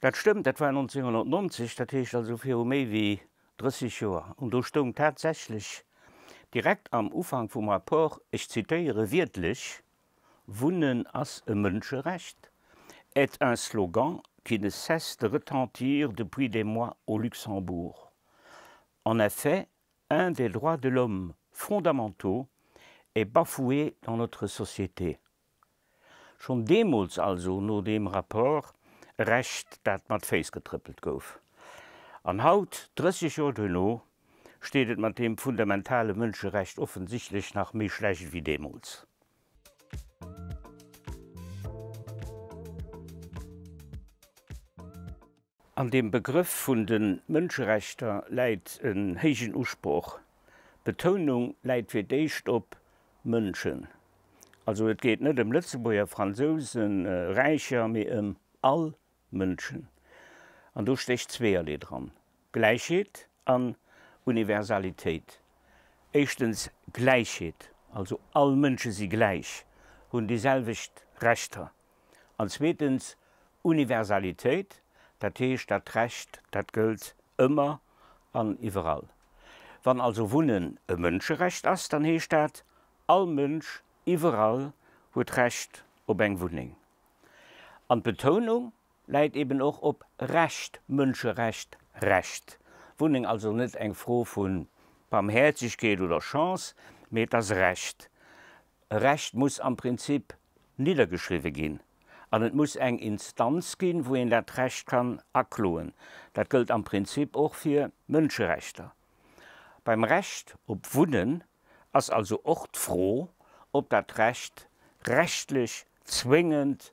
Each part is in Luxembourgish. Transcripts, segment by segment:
Dat stëmmt, dat war 1990, dat heescht also viru méi wéi 30 Joer. An do stoung tatsächlech direkt am Ufank vum Rapport, ech zitéiere wiertlech, Wunnen ass e Mënscherecht, est un slogan qui ne cesse de retentir depuis des mois au Luxembourg. En effet, un des droits de l'homme fondamentaux est bafoué dans notre société. Schonn deemools, also no deem Rapport, e Recht, dat mat Féiss getrëppelt gouf. An haut, 30 Joer duerno, steet et mat deem fundamentale Mënscherecht offensichtlech nach méi schlecht wéi deemools. An dem Begrëff vun de Mënscherechter läit en héijen Usproch. D'Betounung läit fir d'éischt op Mënschen. Also et geet net ëm Lëtzebuerger, Fransousen, Räicher, mee ëm all Mënschen. An do stécht zweeërlee dran, Gläichheet an Universalitéit. Éischtens Gläichheet, also all Mënsche si gläich, hunn déi selwecht Rechter. An zweetens, Universalitéit, dat heescht, dat Recht, dat gëllt ëmmer an iwwerall. Wann also Wunnen e Mënscherecht ass, dann heescht dat, all Mënsch iwwerall huet Recht op eng Wunneng. An d'Betounung läit eben och op Recht, Mënscherecht, Recht. Wunneng also net eng Fro vu Barmhäerzegkeet oder Chance, mee et ass Recht. E Recht muss am Prinzip niddergeschriwwe ginn an et muss eng Instanz ginn, wou een dat Recht kann akloen. Dat gëllt am Prinzip och fir Mënscherechter. Beim Recht op Wunnen ass also och d'Fro, ob dat Recht rechtlech zwéngend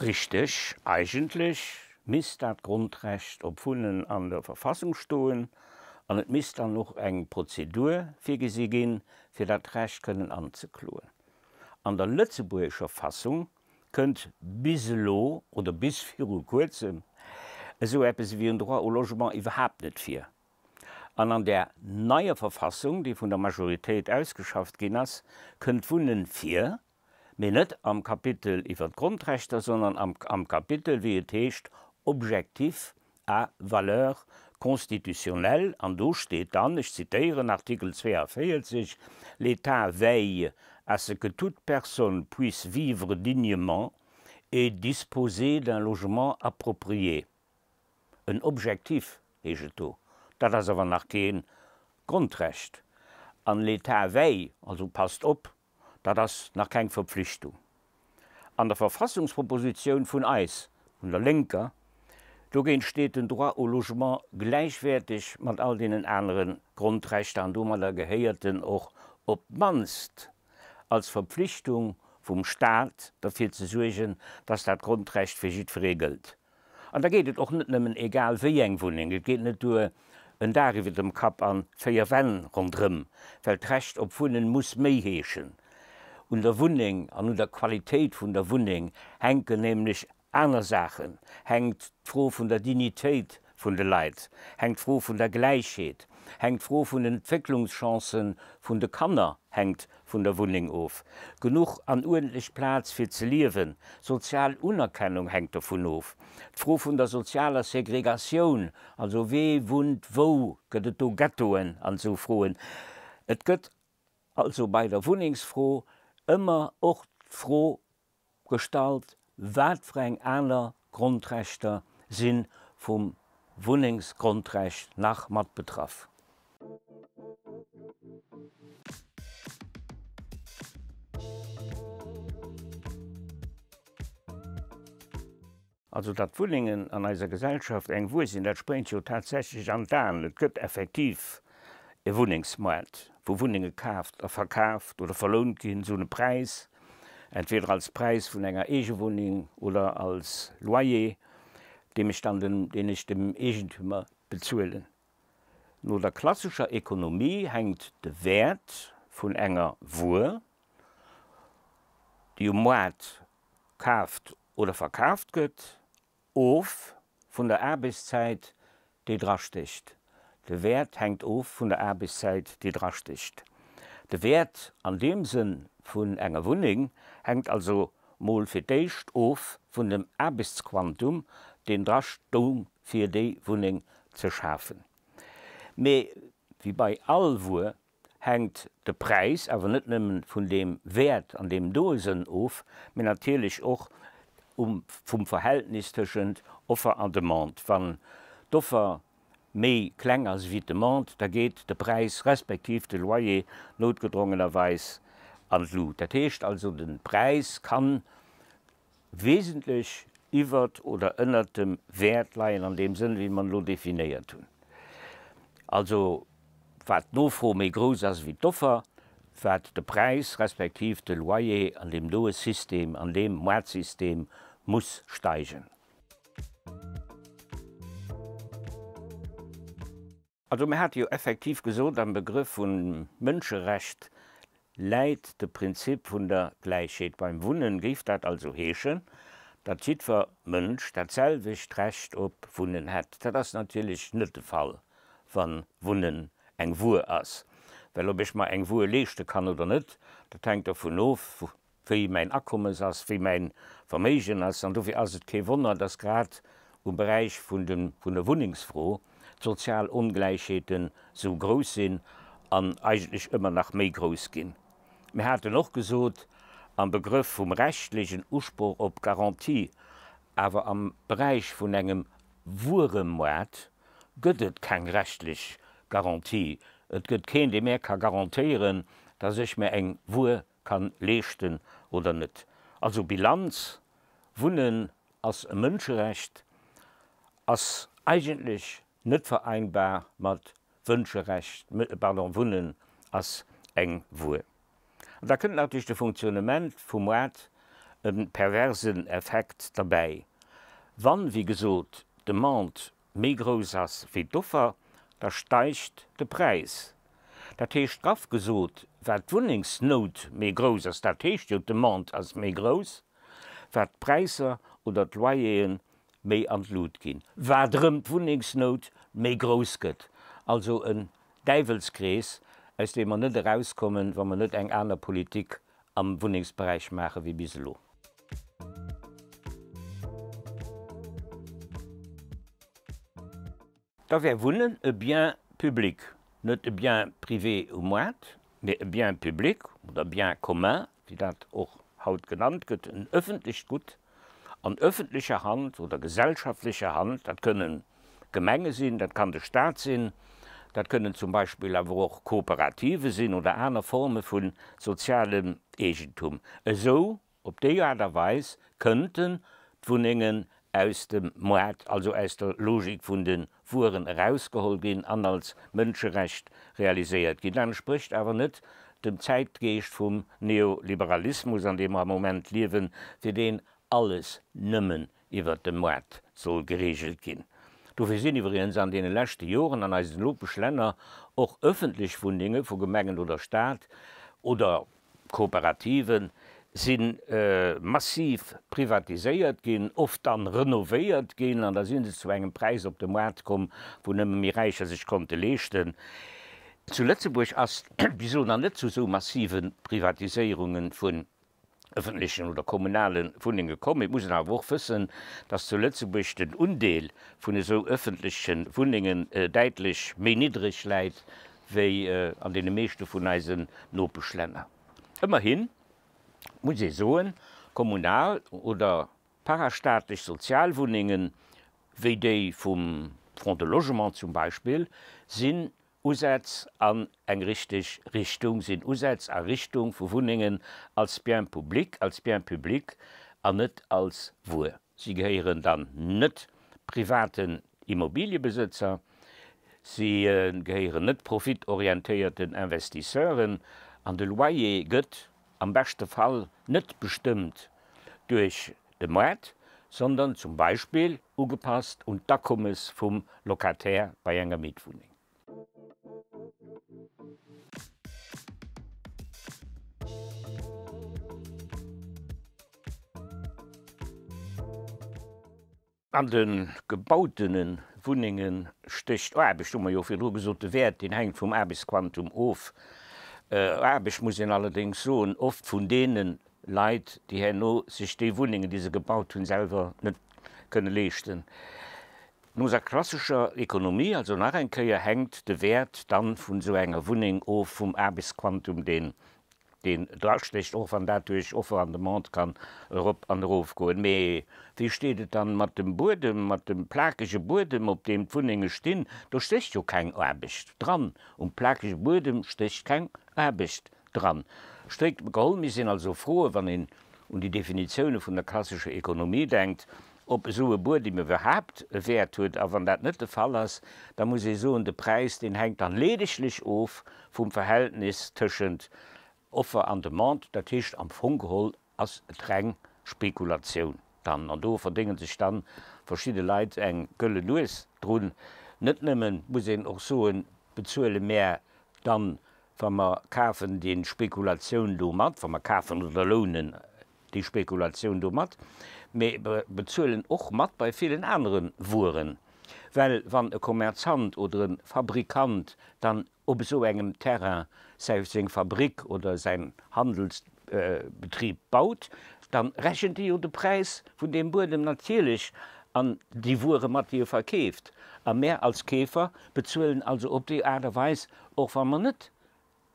Richteg, eigentlech misst dat Grondrecht op Wunnen an der Verfassung stoen an et misst dann och eng Prozedur virgesi ginn, fir dat Recht kënnen anzekloen. An der lëtzebuergescher Fassung kënnt bis elo oder bis viru Kuerzem esou eppes ewéi en Droit au logement iwwerhaapt net vir. An an där neier Verfassung, déi vun der Majoritéit ausgeschafft ginn ass, kënnt Wunnen vir. Mee net am Kapitel iwwer d'Grondrechter, sondern am am Kapitel, wéi et heescht, Objectifs à valeur constitutionnelle, an do steet dann, ech zitéieren, Artikel 42, L'État veille à ce que toute personne puisse vivre dignement et disposer d'un logement approprié. En Objectif heescht et do. Dat ass awer nach kee Grondrecht. An L'État veille, also passt op, dat ass nach keng Verpflichtung. An der Verfassungspropositioun vun eis, vun der Lénker, dogéint steet den Droit au logement gläichwäerteg mat all deenen anere Grondrechter an domadder gehéiert en och op d'mannst als Verpflichtung vum Stat derfir ze suergen, dass dat Grondrecht fir jiddweree gëllt. An da geet et och net nëmmen egal wéi eng Wunneng, et geet net duer, en Daach iwwer dem Kapp an véier Wänn rondrëm, well d'Recht op Wunnen muss méi heeschen. Un der Wunneng an un der Qualitéit vun der Wunneng hänken nämlech aner Saachen, hänkt d'Fro vun der Dignitéit vun de Leit, hänkt d'Fro vun der Gläichheet, hänkt d'Fro vun den Entwécklungschancen vun de Kanner, hänkt vun der Wunneng of, genuch an uerdentlech Plaz fir ze liewen, sozial Unerkennung hänkt dovun of, d'Fro vun der sozialer Segregatioun, also wee wunnt wou, gëtt et do Ghettoen an esou Froen. Et gëtt also bei der Wunnengsfro ëmmer och d'Fro Gestalt, wat fir eng aner Grondrechter si vum Wunnengsgrondrecht nach mat betraff? Also datt d'Wunnengen an eiser Gesellschaft eng Wuer sinn, dat spréngt jo tatsächlech an d'Aen. Et gëtt effektiv e Wunnengsmoart, wou Wunnenge kaaft a verkaaft oder verlount ginn, sou de Präis, entweder als Präis vun enger Eegewunneng oder als Loyer, deem ech dann dem, deen ech dem Eegentümer bezuelen. No der klassescher Ekonomie hänkt de Wäert vun enger Wuer, déi um Moart kaaft oder verkaaft gëtt, of vun der Aarbechtszäit, déi drastécht. De Wäert hänkt of vun der Aarbechtszäit, déi drastécht. De Wäert an deem Sënn vun enger Wunneng hänkt also mol fir d'éischt of vun dem Aarbechtsquantum, deen drastoung, fir déi Wunneng ze schafen. Mee wéi bei all Wuer hänkt de Präis awer net nëmmen vun deem Wäert an deem doe Sënn of, mee natierlech och um vum Verhältnis tëschent Offer an Demande. Wann d'Offer méi kleng ass ewéi d'Demande, da geet de Präis respektiv de Loyer noutgedrongenerweis an d'Lut. Dat heescht also, de Präis kann Wesentlech iwwert oder ënnert dem Wäert leien an deem Sënn, wéi mer en elo definéiert hunn, also wat d'Nofro méi grouss ass wéi d'Offer, wat de Präis respektiv de Loyer an deem doe System, an deem Maartsystem muss steigen. Also mir hate jo effektiv gesot, am Begrëff vu Mënscherecht läit de Prinzip vun der Gläichheet beim Wunnen. Géif dat also heeschen, datt jiddwer Mënsch dat selwecht Recht op Wunnen hätt? Dat ass natierlech net de Fall, wa Wunnen eng Wuer ass. Well ob ech mer eng Wuer leeschte kann oder net, dat hänkt dovun of, wéi mäin Akommes ass, wéi mäin Verméigen ass. An dofir ass et kee Wonner, dass grad um Beräich vun der Wunnengsfro d'sozial Ongläichheeten esou grouss sinn an eigentlech ëmmer nach méi grouss ginn. Mir haten och gesot, am Begrëff vum rechtlechen Usproch op Garantie, awer am Beräich vun engem Wueremoart gëtt et keng rechtlech Garantie. Et gëtt keen, dee mär ka garantéieren, dass ech mär eng Wuer kann leeschten oder net. Also Bilanz, Wunnen ass e Mënscherecht, ass eigentlech net vereinbar mat Wënscherecht, pardon, Wunnen ass eng Wuer. An da kënnt nach duerch de Fonctionnement vum Maart e perversen Effekt derbäi, wann, wéi gesot, d'Demande méi grouss ass wéi d'Offer, da steigt de Präis. Dat heescht, graff gesot, wat d'Wunnengsnout méi grouss ass, dat heescht jo d'Demande ass méi grouss, wat d'Präisser oder d'Loyer'e méi an d'Lut ginn, wat erëm d'Wunnengsnout méi grouss gëtt. Also en Däiwelskrees, aus deem mer net erauskommen, wa mer net eng aner Politik am Wunnengsberäich maache wéi bis elo. Da wär Wunnen e Bien public, net e Bien privé um Moart, mee e Bien public oder Bien commun, wéi dat och haut genannt gëtt, en ëffentlecht Gutt, an öffentlecher Hand oder gesellschaftlecher Hand. Dat kënnen Gemenge sinn, dat kann de Stat sinn, dat kënnen zum Beispill awer och Kooperative sinn oder aner Forme vu sozialem Eegentum. Esou, op déi Aart a Weis kënnten d'Wunnengen aus dem Moart, also aus der Logik vun de Wueren erausgeholl ginn an als Mënscherecht realiséiert ginn. Dat entsprécht awer net dem Zäitgeescht vum Neoliberalismus, an deem mer am Moment liewen, fir deen alles nëmmen iwwert de Moart soll gereegelt ginn. Dofir sinn iwwregens an deene leschte Joren an eisen Nopeschlänner och ëffentlech Wunnenge vu Gemengen oder Staat oder Kooperativen si massiv privatiséiert ginn, oft dann renovéiert ginn an da si se zu engem Präis op de Moart komm, wou nëmme méi Räicher sech konnte leeschten. Zu Lëtzebuerg ass bis elo nach net zu esou massive Privatiséierunge vun ëffentlechen oder kommunale Wunnenge komm. Et muss een awer och wëssen, dass zu Lëtzebuerg den Undeel vun esou ëffentleche Wunnengen däitlech méi niddreg läit wéi an deene meeschte vun eisen Nopeschlänner. Ëmmerhin muss ee soen, kommunal oder parastaatlech Sozialwunnenge wéi déi vum Fonds de Logement zum Beispill sinn Usätz an eng richteg Richtung, sinn Usätz a Richtung vu Wunnengen als Bien public, als Bien public an net als Wuer. Si gehéieren dann net private D'Immobiliëbesëtzer, si gehéieren net profitorientéierten Investisseuren an de Loyer gëtt am beschte Fall net bestëmmt duerch de Moart, sondern zum Beispill ugepasst un d'Akommes vum Locataire bei enger Mietwunneng. An de gebautene Wunnenge stécht Aarbecht, hu mer jo virdru gesot. De Wäert, deen hänkt vum Aarbechtsquantum of. Aarbecht, muss een allerdéngs soen, oft vun deene Leit, déi herno sech déi Wunnengen, déi se gebaut hunn, selwer net kënne leeschten. No eiser klassescher Ekonomie also nach eng Kéier, hänkt de Wäert dann vun esou enger Wunneng of vum Aarbechtsquantum, deen deen drastécht, och wann dat duerch Offer an Demande kann erop an erof goen. Mee wéi steet et dann mat dem Buedem, mat dem plakege Buedem, op deem d'Wunnenge stinn? Do stécht jo keng Aarbecht dran. Um plakege Buedem stécht keng Aarbecht dran. Stréit geholl, mir sinn also froe, wann een un déi Definitioune vun der klassescher Ekonomie denkt, ob esou e Buedem iwwerhaapt e Wäert huet, a wann dat net de Fall ass, da muss ee soen, de Präis, deen hänkt dann leedeglech of vum Verhältnis tëschent Offer an Demande. Dat heescht, am Fong geholl ass et reng Spekulatioun dann, an do verdénge sech dann verschidde Leit eng gëlle Nues drun. Net nëmmen, muss een och soen, bezuele mär dann, wa mer kafen, déi Spekulatioun do mat, wa mer kafen oder lounen déi Spekulatioun domat, mä bezuelen och mat bei villen anere Wueren. Well wann e Kommerzant oder e Fabrikant dann op esou engem Terrain säi, seng Fabrik oder säin Handelsbetrib baut, da rechent e jo de Präis vun deem Buedem natierlech an déi Wuere mat, déi e verkeeft. A mär als Keefer bezuelen also op déi Aart a Weis, och wa mer net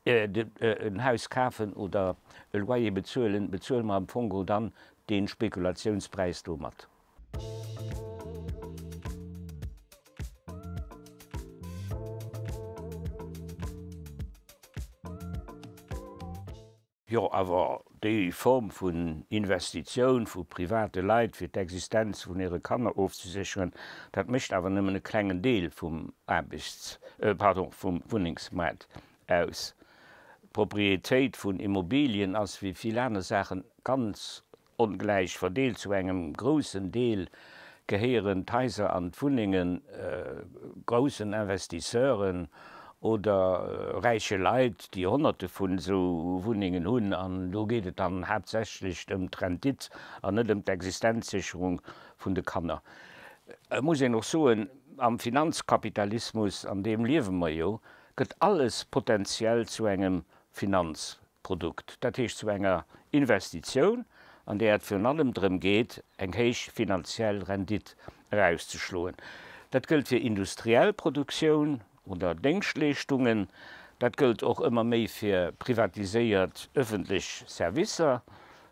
en Haus kafen oder e Loyer bezuelen, bezuele mer am Fong geholl dann dee Spekulationspräis do mat. Jo, awer déi Form vun Investitioun vu private Leit, fir d'Existenz vun hire Kanner ofzesécheren, dat mécht awer nëmmen e klengen Deel vum Aarbechts-, pardon, vum Wunnengsmaart aus. D'Propriétéit vun Immobilien ass wéi vill aner Saachen ganz Ongläich verdeelt, zu engem groussen Deel gehéieren d'Haiser an d'Wunnenge groussen Investisseuren oder räiche Leit, déi Honnerte vun esou Wunnengen hunn. An do geet et dann haaptsächlech ëm d'Rendite an net ëm d'Existenzsécherung vun de Kanner. Et muss een och soen, am Finanzkapitalismus, an deem liewe mer jo, gëtt alles potenziell zu engem Finanzprodukt. Produkt, dat heescht zu enger Investitioun, an där et virun allem drëm geet, eng héich finanziell Rendit erauszeschloen. Dat gëllt fir industriell Produktioun oder Déngschtleeschtungen, dat gëllt och ëmmer méi fir privatiséiert ëffentlech Servicer,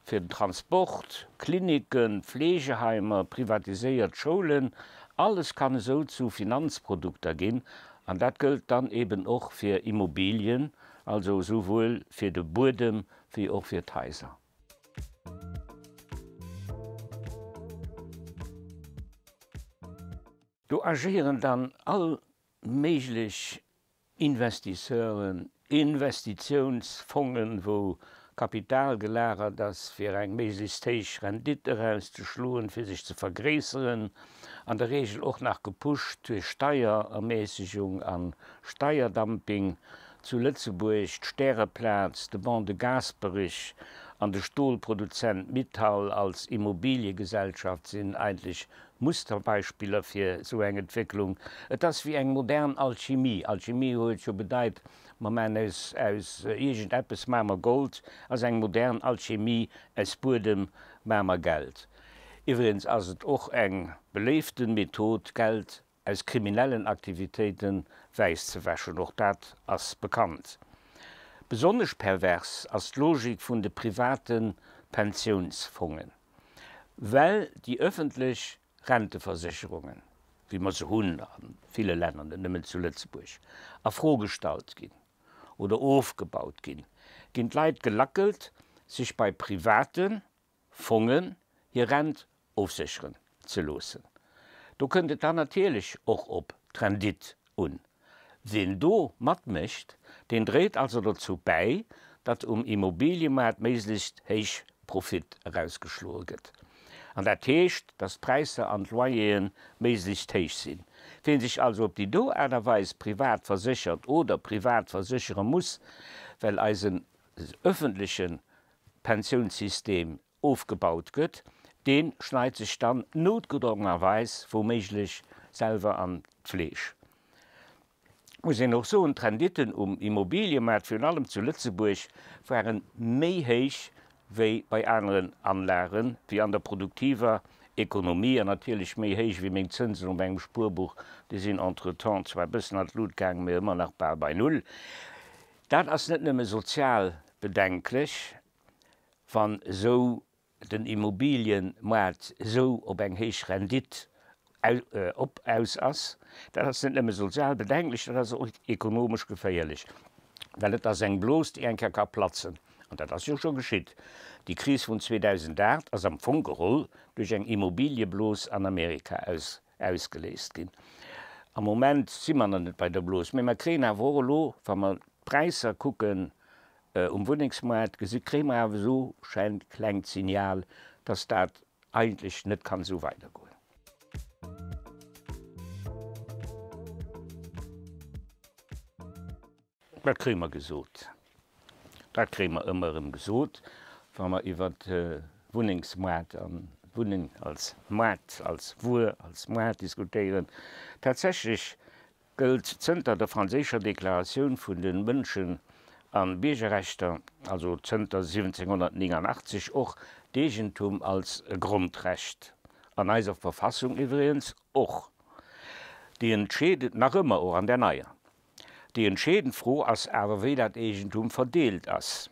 fir den Transport, Klinicken, Fleegeheimer, privatiséiert Schoulen. Alles kann esou zu Finanzprodukter ginn, an dat gëllt dann eeben och fir Immobilien, Also esouwuel fir de Buedem wéi och fir d'Haiser. Do agéieren dann all méiglech Investisseuren, Investitiounsfongen, wou Kapital gelagert ass, fir eng méiglechst héich Rendite erauszeschloen, fir sech ze vergréisseren, an der Reegel och nach gepusht duerch Steierermäßigung a Steierdumping, zu Lëtzebuerg d'Stäreplaz, de Ban de Gasperich an de Stolproduzent Mittal als Immobiliegesellschaft sinn eigentlech Musterbeispiller fir esou eng Entwécklung. Et ass wéi eng modern Alchimie. Alchimie huet jo bedeit, Mer maachen aus, aus iergend eppes maache mer Gold, ass eng modern Alchemie, aus Buedem maache mer Geld. Iwwregens ass et och eng beléiften Method, Geld aus kriminellen Aktivitéiten wäiss ze wäschen, och dat ass bekannt. Besonnesch pervers ass d'Logik vun de privaten Pensiounsfongen, well déi öffentlech Renteversécherungen, wéi mer se hunn a ville Länner, net nëmmen zu Lëtzebuerg, a Fro gestallt ginn oder ofgebaut ginn, ginn d'Leit gelackelt, sech bei private Fongen hir Rent ofsécheren ze loossen. Do kënnt et dann natierlech och op d'Rendite un. Ween do matmécht, deen dréit also dozou bäi, datt um Immobiliemaart méiglechst héich Profit erausgeschloe gëtt. An dat heescht, datt d'Präisser an d'Loyer'e méiglechst héich sinn. Ween sech also op déi do Aart a Weis privat verséchert oder privat verséchere muss, well eisen ëffentleche Pensiounssystem ofgebaut gëtt, dee schneit sech dann noutgedrongenerweis wou méiglech selwer an d'Fleesch. Et muss een och soen, d'Renditten um Immobiliemaart, virun allem zu Lëtzebuerg, ware méi héich wéi bei aneren Anlagen, wéi an der produktiver Ekonomie an natierlech méi héich wéi meng Zënsen op engem Spuerbuch, déi sinn entretemps zwar e bëssen an d'Lut gaang, mä ëmmer nach bal bei Null. Dat ass net nëmme sozial bedenklech, wann esou den Immobiliëmaart esou op eng héich Rendite op aus ass, dat ass net nëmme sozial bedenklech, dat ass och ekonomesch geféierlech, well et ass eng Blos, déi eng Kéier ka platzen. An dat ass jo scho geschitt. Déi Kris vun 2008 ass am Fong geholl duerch eng Immobiliëblos an Amerika Ausgeléist ginn. Am Moment si mer nach net bei der Blos, mee mer kréien awer och elo, wa mer d'Präisser kucken um Wunnengsmoart, gesi kréie mer awer esou schengt klengt Signal, dass dat eigentlech net kann esou weidergoen. Dat kréie mer gesot. Dat kréie mer ëmmer erëm gesot, wa mer iwwer de Wunnengsmaart an d'Wunneng als Maart, als Wuer, als Maart diskutéieren. Tatsächlech gëllt zënter der franséischer Deklaratioun vun de Mënschen a Biergerrechter, also zënter 1789, och d'Eegentum als e Grondrecht, an eiser Verfassung iwwregens och. Déi entscheet nach ëmmer, och an där neier, Déi entscheedend Fro ass awer, wéi dat Eegentum verdeelt ass.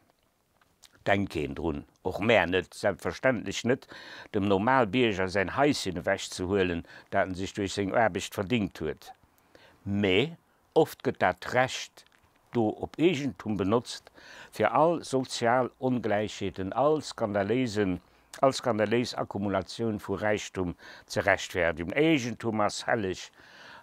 Denkt keen drun, och mär net, selbstverständlech net, dem Normalbierger säin Haischen ewechzehuelen, dat en sech duerch seng Aarbecht verdingt huet. Mä oft gëtt dat Recht do op Eegentum benotzt, fir all sozial Ongläichheeten, all skandaléisen all skandaléis Akkumulatioun vu Räichtum ze rechtfäerdigen. Eegentum ass helleg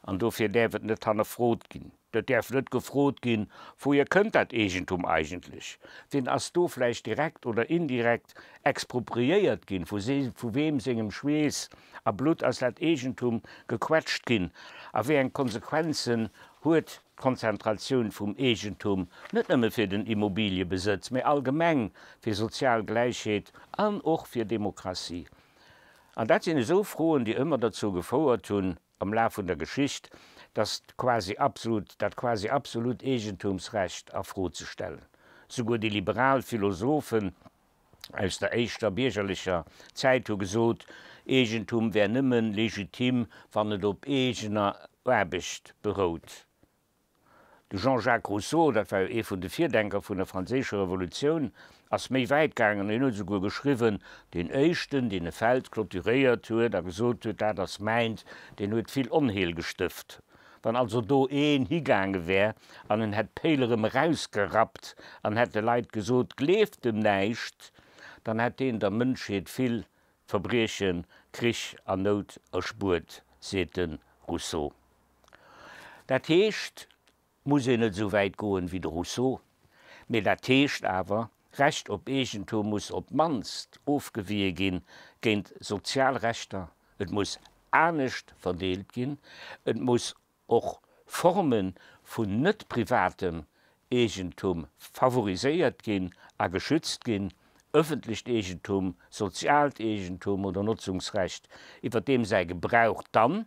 an dofir däerf et net hannerfrot ginn. Et däerf net gefrot ginn, Wouhier kënnt dat Eegentum eigentlech? Wien ass do vläicht direkt oder indirekt expropriéiert ginn? Vu weem sengem Schweess a Blutt ass dat Eegentum gequetscht ginn a wéi eng Konsequenzen huet D'Konzentratioun vum Eegentum, net nëmme fir den Immobiliëbesëtz, mä allgemeng fir sozial Gläichheet an och fir Demokratie. An dat sinn esou Froen, déi ëmmer derzou gefouert hunn am Laf vun der Geschicht, dass quasi absolut, dat quasi absolut Eegentumsrecht a Fro ze stellen. Souguer déi liberal Philosophen, aus der éischter biergerlecher Zäit hu gesot, Eegentum wär nëmme legitim, wann et op eegener Aarbecht berout. De Jean-Jacques Rousseau, dat war jo ee vun de Virdenker vun der Franséischer Revolutioun, ass méi wäit gaangen, hien huet esouguer geschriwwen, Deen Éischten, deen e Feld clôturéiert huet a gesot huet, dat ass mäint, deen huet vill Onheel gestëft. Wann also do een higaange wär an en hätt d'Péil erëm erausgerappt an hätt de Leit gesot, gleeft dem näischt, dann hätt deen der Mënschheet vill Verbriechen, Krich an Nout erspuert, seet de Rousseau. Dat heescht, muss een net esou wäit goen, wéi de Rousseau, mee dat heescht awer, Recht op Eegentum muss op d'mannst ofgewiehe ginn géint sozial Rechter, et muss anescht verdeelt ginn, et muss och Forme vun net privatem Eegentum favoriséiert ginn a geschützt ginn, ëffentlecht Eegentum, soziaalt Eegentum oder Notzungsrecht, iwwer deem säi Gebrauch dann